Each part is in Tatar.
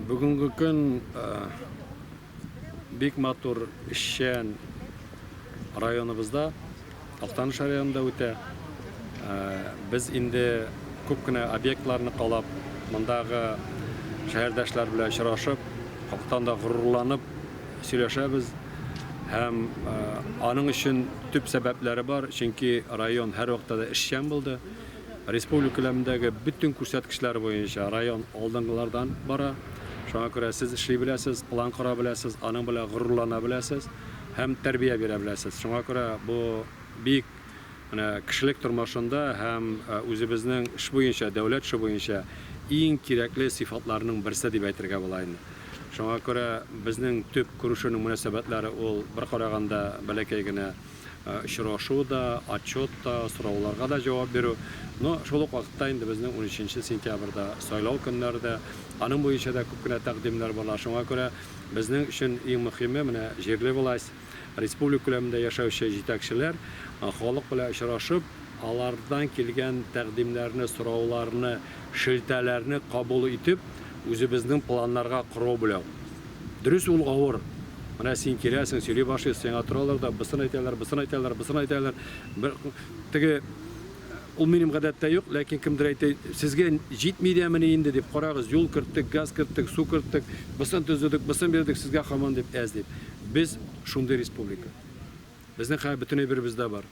Бүгенге көн бик матур, эшчән районыбызда, Актаныш районында үтә. Без инде күп кенә объектларны калап, мондагы шәһәрдәшләр белән очрашып, хактан да горурланып сөйләшәбез. Һәм аның өчен төп сәбәпләре бар, чөнки район һәрвакытта да эшчән булды. Республика күләмендәге бөтен күрсәткечләр буенча район алдынгылардан бара. Шуңа күрә сез эшли беләсез, план кора беләсез, аның белән горурлана беләсез һәм тәрбия бирә беләсез. Шуңа күрә бу бик менә кешелек тормышында һәм үзебезнең эш буенча, дәүләт эше буенча иң кирәкле сыйфатларның берсе дип әйтергә була инде. Шуңа күрә безнең төп күрешүнең мөнәсәбәтләре ул бер караганда бәләкәй генә очрашу да, отчет та, сорауларга да җавап бирү. Но шул ук вакытта инде безнең 13 сентябрьдә сайлау көннәре дә, аның буенча да күп кенә тәкъдимнәр барлар. Шуңа күрә безнең өчен иң мөһиме, менә җирле власть, республика күләмендә яшәүче җитәкчеләр халык белән очрашып, алардан килгән тәкъдимнәрне, сорауларны, шелтәләрне кабул итеп, үзебезнең планнарга корал бүләү. Дөрес ул авыр. Менә син киләсең, сөйли башлыйсың, сиңа торалар да, бысын әйтәләр, бысын әйтәләр, бысын әйтәләр. Бер теге ул минем гадәттә юк, ләкин кемдер әйтә, сезгә җитми дәмени инде дип, карагыз, юл керттек, газ керттек, су керттек, бысын төзедек, бысын бирдек, сезгә хаман дип әз дип. Без шундый республика. Безнең хәл бөтен әйберебездә бар.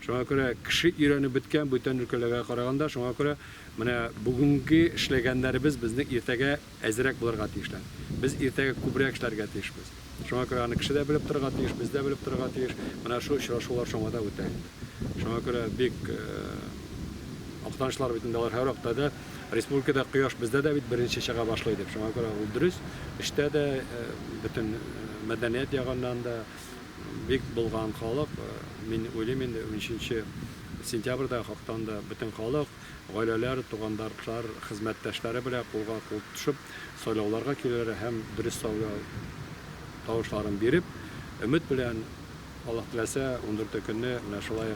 Шуңа күрә кеше өйрәнеп беткән бүтән өлкәләргә караганда, шуңа күрә менә бүгенге эшләгәннәребез безнең иртәгә әзерәк булырга тиешләр. Без иртәгә күбрәк эшләргә тиешбез. Шуңа күрә аны кеше дә белеп торырга тиеш, без дә белеп торырга тиеш. Менә шул очрашулар шуңа да үтә инде. Шуңа күрә бик актанышлар бит инде алар һәр вакытта да. Республикада кояш бездә дә бит беренче чыга башлый дип. Шуңа күрә ул дөрес. Эштә дә, бөтен мәдәният ягыннан да. Бик булган халык, мин уйлыйм инде унөченче сентябрьдә хактанда бөтен халык, гаиләләр, тугандартлар, хезмәттәшләре белән кулга кул тотышып сайлауларга киләләр һәм дөрес сайлау тавышларын биреп, өмет белән Аллаһ теләсә ундүрте көнне менә шулай